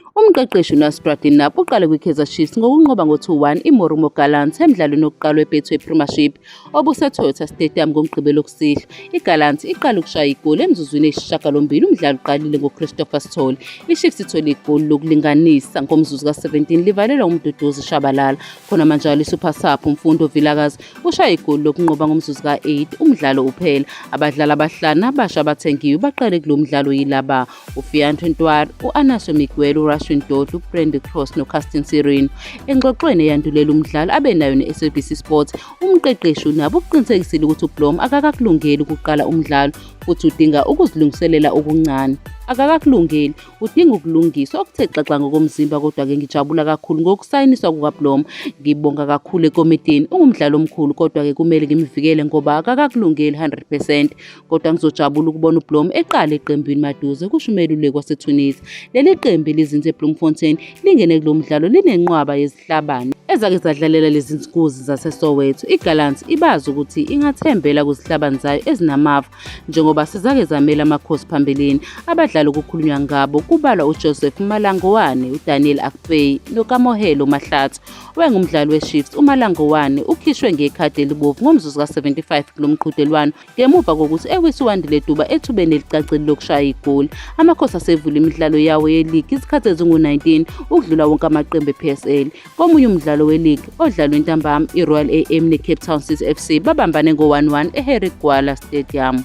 Umqeqeshi uNasrat Dinap uqale kwiKaizer Chiefs ngokunqoba ngo-2-1 iMorumo Gallants emdlalweni wokuqala weBetway Premiership obuseToyota Stadium ngoMgqibelo kusihlwa. IGallants iqale ukushaya igoli emzuzwini eyisishiyagalombili umdlalo uqalile ngoChristopher Sithole. IChiefs ithole igoli lokulinganisa ngomzuzu ka-17 livalelwa uMduduzi Shabalala. Khona manjalo iSuper Sub uMfundo Vilakazi ushaya igoli lokunqoba ngomzuzu ka-8 umdlalo uphela. Abadlali abahlanu abasha abathengiwe baqale kulo mdlalo yilaba uFianto Ntwari, u-Anaso Miguel, uRashwin Dodlu, uBrand Cross noCastin Sirino. Engxoxweni eyandulela umdlalo abe nayo ne-SABC Sports, umqeqeshi unabo ukuqinisekisile ukuthi uBlom akakakulungeli ukuqala umdlalo futhi udinga ukuzilungiselela okuncane. Akakakulungeli, udinga ukulungiswa okuthe xaxa ngokomzimba kodwa-ke ngijabula kakhulu ngokusayiniswa kukaBlom. Ngibonga kakhulu ekomidini, ungumdlali omkhulu kodwa-ke kumele ngimvikele ngoba akakakulungeli 100 percent. kodwa ngizojabula ukubona uBlom eqala eqembini maduze kusho umeluleki waseTunisia. Leli qembu elizinze eBloemfontein lingene kulo mdlalo linenqwaba yezihlabani ezake zadlalela lezi nsikuzi zaseSoweto. IGallants ibazi ukuthi ingathembela kuzihlabani zayo ezinamava njengoba sizake zamela amakhosi phambilini. Abadlali okukhulunywa ngabo kubalwa uJoseph Malangowane, uDaniel Akpeyi noKamohelo Mahlatsi. Wayengumdlali weChiefs uMalangowane ukhishwe ngekhadi elibovu ngomzuzu ka-75 kulo mqhudelwano Ngemuva kokuthi ewise uWandile Duba ethubeni elicacile lokushaya igoli, Amakhosi asevule imidlalo yawo yeligi izikhathi ezingu-19 ukudlula wonke amaqembu e-PSL. Komunye umdlalo weligi odlalwe ntambama, i-Royal AM ne-Cape Town City FC babambane ngo-1-1 e-Harry Gwala Stadium.